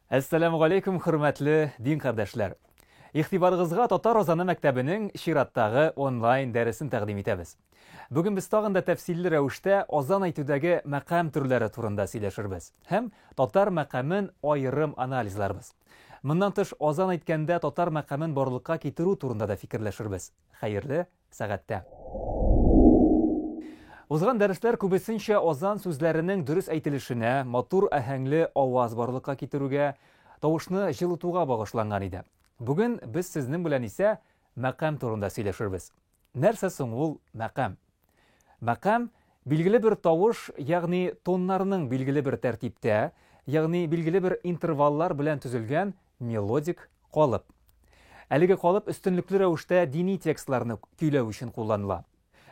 Әссәләмү алейкум, хөрмәтле дин кардәшләр. Ихтибарыгызга Татар Розаны мәктәбенең чираттагы онлайн дәресен тәкъдим итәбез. Бүген без тагын да тәфсилле рәвештә азан әйтүдәге мәкам төрләре турында сөйләшербез һәм татар мәкамен аерым анализларбыз. Моннан тыш азан әйткәндә татар мәкамен барлыкка китерү турында да фикерләшербез. Хәерле сәгатьтә. Узган дәресләр күбесенчә азан сүзләренең дөрес әйтелешенә, матур аһәңле аваз барлыкка китерүгә, тавышны җылытуга багышланган иде. Бүген без сезнең белән исә мәкам турында сөйләшербез. Нәрсә соң ул мәкам? Мәкам, билгеле бер тавыш, ягъни тоннарның билгеле бер тәртиптә, ягъни билгеле бер интерваллар белән төзелгән Мелодик калып. Әлеге калып өстенлекле рәвештә дини текстларны көйләү өчен кулланыла.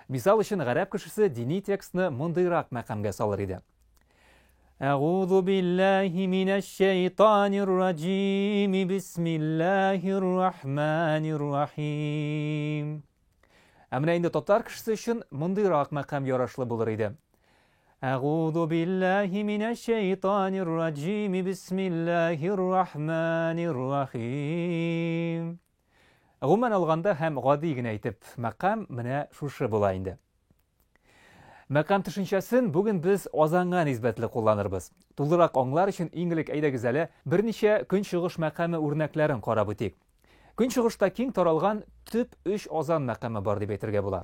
Мисал өчен, гарәп кешесе дини текстны мондыйрак мәкамгә салыр иде. Әгузу биллаһи минәш шәйтанир раҗим. Бисмиллаһир рахманир рахим. Ә менә инде татар кешесе өчен мондыйрак мәкам ярашлы булыр иде. Әгузу билләһи минәш шәйтанир раджими бисмилләһир рахманир рахим. Гомумән алганда һәм гади генә әйтеп, мәкам менә шушы була инде. Мәкам төшенчәсен бүген без азанга нисбәтле кулланырбыз. Тулырак аңлар өчен иң элек әйдәгез әле берничә көнчыгыш мәкаме үрнәкләрен карап үтик. Көнчыгышта киң таралган төп өч азан мәкаме бар дип әйтергә була.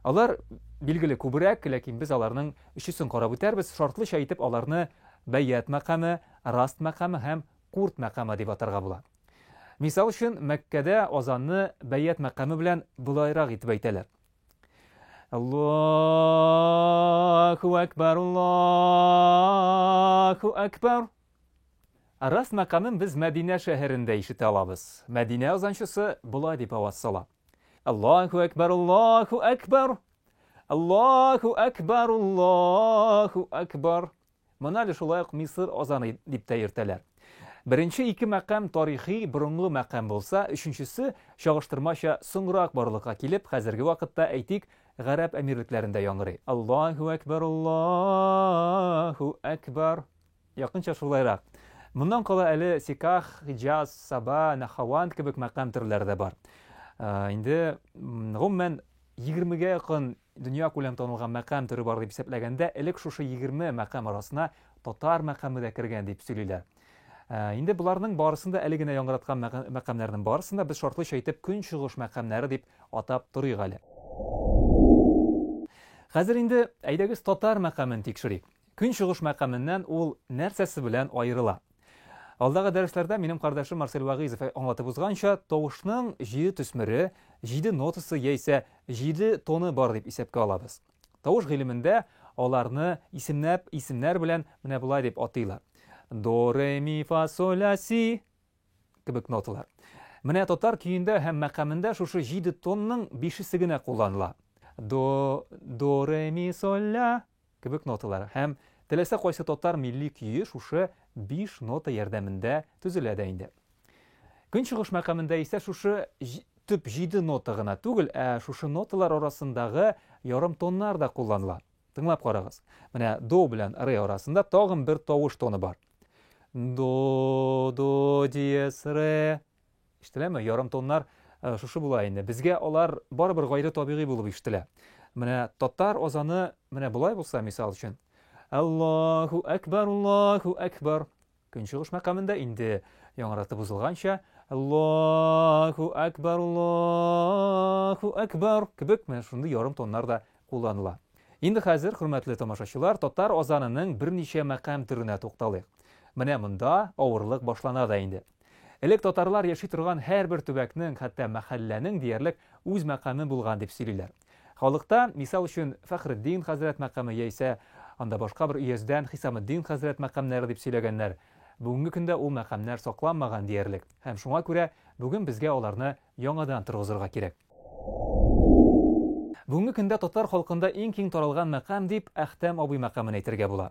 Алар билгеле күбрәк, ләкин без аларның өчесен карап үтәрбез, шартлыча итеп аларны Бәйят мәкаме, Раст мәкаме һәм Курт мәкаме дип атарга була. Мисал өчен, Мәккәдә азанны Бәйят мәкаме белән болайрак итеп әйтәләр. Аллаһу акбар, Аллаһу акбар. Рас мәкамын без Мәдинә шәһәрендә ишетә алабыз. Мәдинә азанчысы болай дип аваз сала. Аллаһу әкбар, Аллаһу әкбар. Аллаһу әкбар, Аллаһу әкбар. Моны әле шулай ук Мисыр азаны дип тә йөртәләр. Беренче ике мәкам тарихи борынгы мәкам булса, өченчесе чагыштырмача соңрак барлыкка килеп, хәзерге вакытта әйтик, гарәп әмирлекләрендә яңгырый. Аллаһу әкбар, Аллаһу әкбар. Якынча шулайрак. Моннан кала әле Сиках, Хиҗаз, Саба, Нахаванд кебек мәкам төрләре дә бар. Инде гомумән 20-гә якын дөнья күләм танылган мәкам төре бар дип исәпләгәндә, элек шушы 20 мәкам арасына татар мәкаме дә кергән дип сөйлиләр. Ә, инде боларның барысын да әле генә яңгыраткан мәкамнәрнең барысын да без шартлыча итеп көнчыгыш мәкамнәре дип атап торыйк әле. Хәзер инде әйдәгез татар мәкамен тикшерик. Көн чыгыш мәкаменнән ул нәрсәсе белән аерыла? Алдагы дәресләрдә минем кардәшем Марсель Вагыйзов аңлатып узганча, тавышның җиде төсмере, җиде нотасы яисә җиде тоны бар дип исәпкә алабыз. Тавыш гыйлемендә аларны исемнәп, исемнәр белән менә болай дип атыйлар. До, ре, ми, фа, соль, ля, си кебек ноталар. Менә татар көендә һәм мәкамендә шушы җиде тонның бишесе генә кулланыла. До, до, ре, ми, соль, ля, Кебек ноталар һәм теләсә кайсы татар милли көе шушы биш нота ярдәмендә төзелә дә инде. Көнчыгыш мәкамендә исә шушы төп җиде нота гына түгел, ә шушы ноталар арасындагы ярым тоннар да кулланыла. Тыңлап карагыз. Менә до белән ре арасында тагын бер тавыш тоны бар. До, до диез, ре. Ишетеләме? Ярым тоннар э, шушы була инде. Безгә алар барыбер гайре табигый булып ишетелә. Менә татар азаны менә болай булса, мисал өчен. Аллаху акбар, Аллаху акбар. Көнчыгыш мәкамында инде яңратып узылганча Аллаху акбар, Аллаху акбар кебек менә шундый ярым тоннар да кулланыла. Инде хәзер, хөрмәтле тамашачылар, татар азанының берничә мәкам төренә тукталыйк. Менә монда авырлык башлана да инде. Элек татарлар яши торган һәрбер төбәкнең, хәтта мәхәлләнең диярлек үз мәкаме булган дип сөйлиләр. Халыкта, мисал өчен, Фәхреддин хәзрәт мәкаме яисә анда башка бер өяздән Хисаметдин хәзрәт мәкамнәре дип сөйләгәннәр. Бүгенге көндә ул мәкамнәр сакланмаган диярлек һәм шуңа күрә бүген безгә аларны яңадан торгызырга кирәк. Бүгенге көндә татар халкында иң киң таралган мәкам дип Әхтәм абый мәкамен әйтергә була.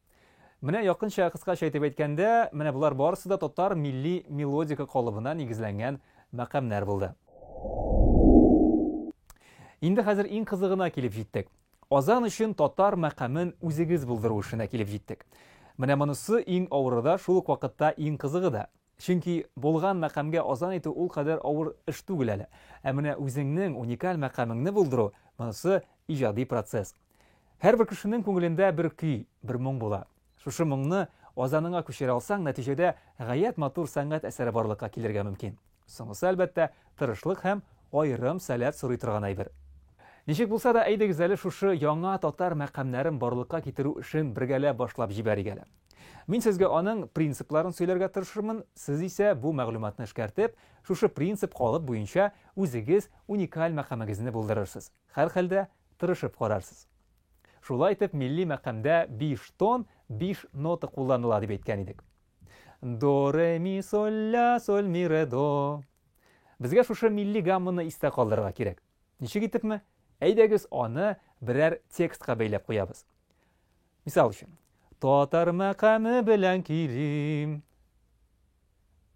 Менә якынча кыскача итеп әйткәндә, менә болар барысы да татар милли мелодика калыбына нигезләнгән мәкамнәр булды. Инде хәзер иң кызыгына килеп җиттек. Азан өчен татар мәкамен үзегез булдыру эшенә килеп җиттек. Менә монысы иң авыры да, шул ук вакытта иң кызыгы да. Чөнки булган мәкамгә азан итү ул кадәр авыр эш түгел әле. Ә менә үзеңнең уникаль мәкамеңне булдыру, монысы иҗади процесс. Һәрбер кешенең күңелендә бер көй, бер моң була. Шушы моңны азаныңа күчерә алсаң, нәтиҗәдә гаять матур сәнгать әсәре барлыкка килергә мөмкин. Соңгысы, әлбәттә, тырышлык һәм аерым сәләт сорый торган әйбер. Ничек булса да, әйдегез әле шушы яңа татар мәкамнәрен барлыкка китерү эшен бергәләп башлап җибәрик әле. Мин сезгә аның принципларын сөйләргә тырышырмын, сез исә бу мәгълүматны эшкәртеп, шушы принцип калып буенча үзегез уникаль мәкамегезне булдырырсыз. Һәрхәлдә, тырышып карарсыз. Шулай итеп, милли мәкамдә биш тон, биш нота кулланыла дип әйткән идек. До, ре, ми, соль, ля, соль, ми, ре, до. Безгә шушы милли гамманы истә калдырырга кирәк. Ничек итепме? Әйдәгез аны берәр текстка бәйләп куябыз. Мисал өчен, татар мәкаме белән килим.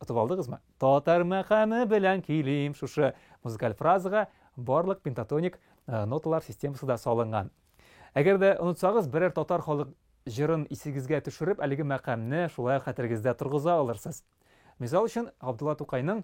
Отып алдыгызмы? Татар мәкаме белән килим. Шушы музыкаль фразага барлык пентатоник э, ноталар системасы да салынган. Әгәр дә онытсагыз, берәр татар халык җырын исегезгә төшереп, әлеге мәкамне шулай хәтерегездә торгыза алырсыз. Мисал өчен, Габдулла Тукайның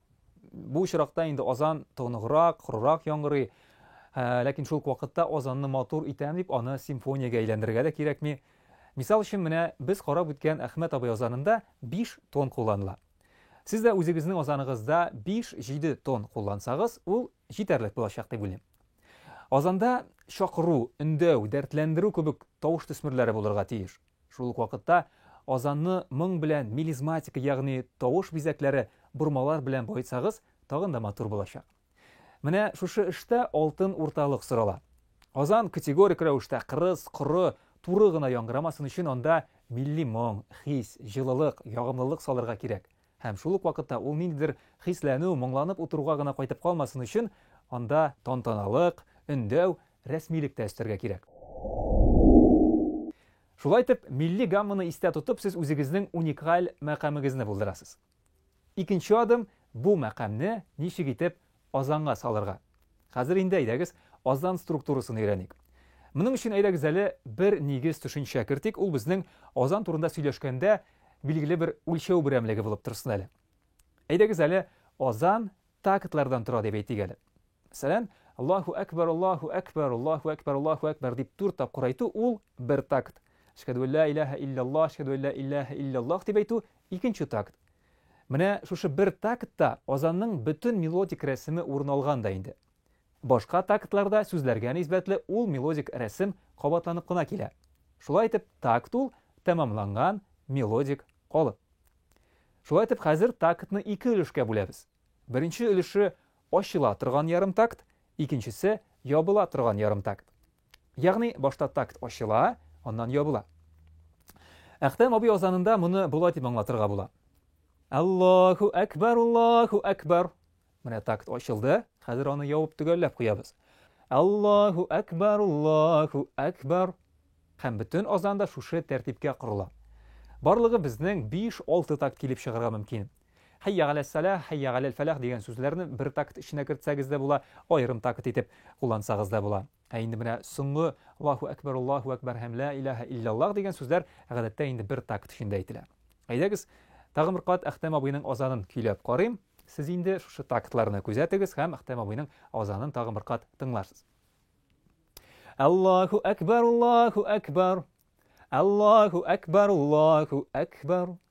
Бу очракта инде азан тоныграк, корырак яңгырый. Ә, ләкин шул ук вакытта азанны матур итәм дип, аны симфониягә әйләндерергә дә кирәкми. Мисал өчен, менә без карап үткән Әхмәт абый азанында 5 тон кулланыла. Сез дә үзегезнең азаныгызда 5-7 тон куллансагыз, ул җитәрлек булачак дип уйлыйм. Азанда чакыру, өндәү, дәртләндерү кебек тавыш төсмерләре булырга тиеш. Шул ук вакытта азанны моң белән, мелизматика, ягъни тавыш бизәкләре, бормалар белән баетсагыз, тагын да матур булачак. Менә шушы эштә алтын урталык сорала. Азан категорик рәвештә кырыс, коры, туры гына яңгырамасын өчен анда милли моң, хис, җылылык, ягымлылык салырга кирәк. Һәм шул ук вакытта ул ниндидер хисләнү, моңланып утыруга гына кайтып калмасын өчен, анда. Тантаналык, өндәү, рәсмилек тә өстәргә кирәк. Шулай итеп, милли гамманы истә тотып, сез үзегезнең уникаль мәкамегезне булдырасыз. Икенче адым, бу мәкамне ничек итеп Азанга салырга. Хәзер инде әйдәгез, азан структурасын өйрәник. Моның өчен әйдәгез әле бер нигез төшенчә кертик, ул безнең азан турында сөйләшкәндә билгеле бер үлчәү берәмлеге булып торсын әле. Әйдәгез әле азан тактлардан тора дип әйтик әле. Мәсәлән, Аллаһу әкбәр, Аллаһу әкбәр, Аллаһу әкбәр, Аллаһу әкбәр дип дүрт тапкыр әйтү ул бер такт. Әшһәдү ла иляха илляллаһ, әшһәдү ла иляха илляллаһ дип әйтү икенче такт. Менә шушы бер тактта азанның бөтен мелодик рәсеме урын алган да инде. Башка тактларда сүзләргә нисбәтле ул мелодик рәсем кабатланып кына килә. Шулай итеп, такт ул, тәмамланган мелодик калып. Шулай итеп, хәзер тактны ике өлешкә бүләбез. Беренче өлеше ачыла торган ярымтакт, икенчесе ябыла торган ярымтакт. Ягъни башта такт ачыла, аннан ябыла. Әхтәм абый азанында моны болай дип аңлатырга була. Аллаху әкбар, Аллаху әкбар. Менә такт ачылды, хәзер аны явып төгәлләп куябыз. Аллаху әкбар, Аллаху әкбар. Һәм бөтен азанда шушы тәртипкә корыла. Барлыгы безнең 5-6 такт килеп чыгарга мөмкин. Хәйя галәссәләһ, хәйя галәлфәләһ дигән сүзләрне бер такт эченә кертсәгез дә була, аерым такт итеп куллансагыз да була. Ә инде менә соңгы Аллаһу әкбәр, Аллаһу әкбәр һәм Лә иләһә илляллаһ дигән сүзләр гадәттә инде бер такт эчендә әйтелә. Әйдәгез, тагын бер кат Әхтәм абыйның азанын көйләп карыйм. Сез инде шушы тактларны күзәтегез һәм Әхтәм абыйның азанын тагын бер кат тыңларсыз. Аллаһу әкбәр, Аллаһу әкбәр. Аллаһу әкбәр, Аллаһу әкбәр.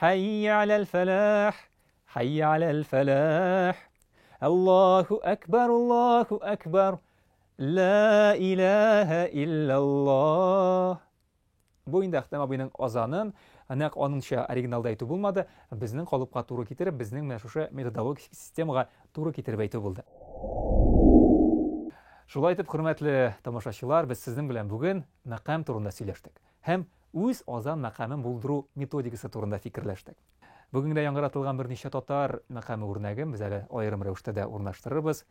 Хәййә аләл фәләх, хәййә аләл фәләх. Аллаһу әкбар, Аллаһу әкбар. Ла илаһа илляллаһ. Бу инде Әхтәм абыйның азанын, нәкъ аныңча оригиналда әйтү булмады, безнең калыпка туры китереп, безнең менә шушы методологик системага туры китереп әйтү булды. Шулай итеп, хөрмәтле тамашачылар, без сезнең белән бүген мәкам турында сөйләштек. һәм үз азан мәкамен булдыру методикасы турында фикерләштек. Бүген генә яңгыратылган берничә татар мәкаме үрнәген без әле аерым рәвештә дә урнаштырырбыз.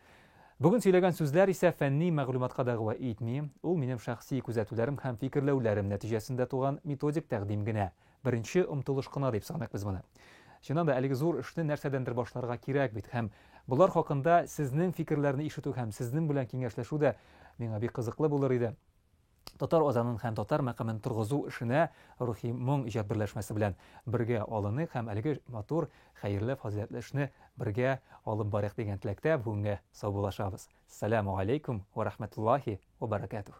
Бүген сөйләгән сүзләр исә фәнни мәгълүматка дәгъва итми, ул минем шәхси күзәтүләрем һәм фикерләүләрем нәтиҗәсендә туган методик тәкъдим генә, беренче омтылыш кына дип саныйк без моны. Чыннан да, әлеге зур эшне нәрсәдәндер башларга кирәк бит, һәм болар хакында сезнең фикерләрне ишетү һәм сезнең белән киңәшләшү дә миңа бик кызыклы булыр иде. Татар азанын һәм татар мәкамен торгызу эшенә Рухи моң иҗат берләшмәсе белән бергә алыныйк һәм әлеге матур, хәерле, фазыйләтле эшне бергә алып барыйк дигән теләктә бүгенгә саубуллашабыз. Саләмү галәйкүм вә рәхмәтуллаһи вә бәрәкәтүһ.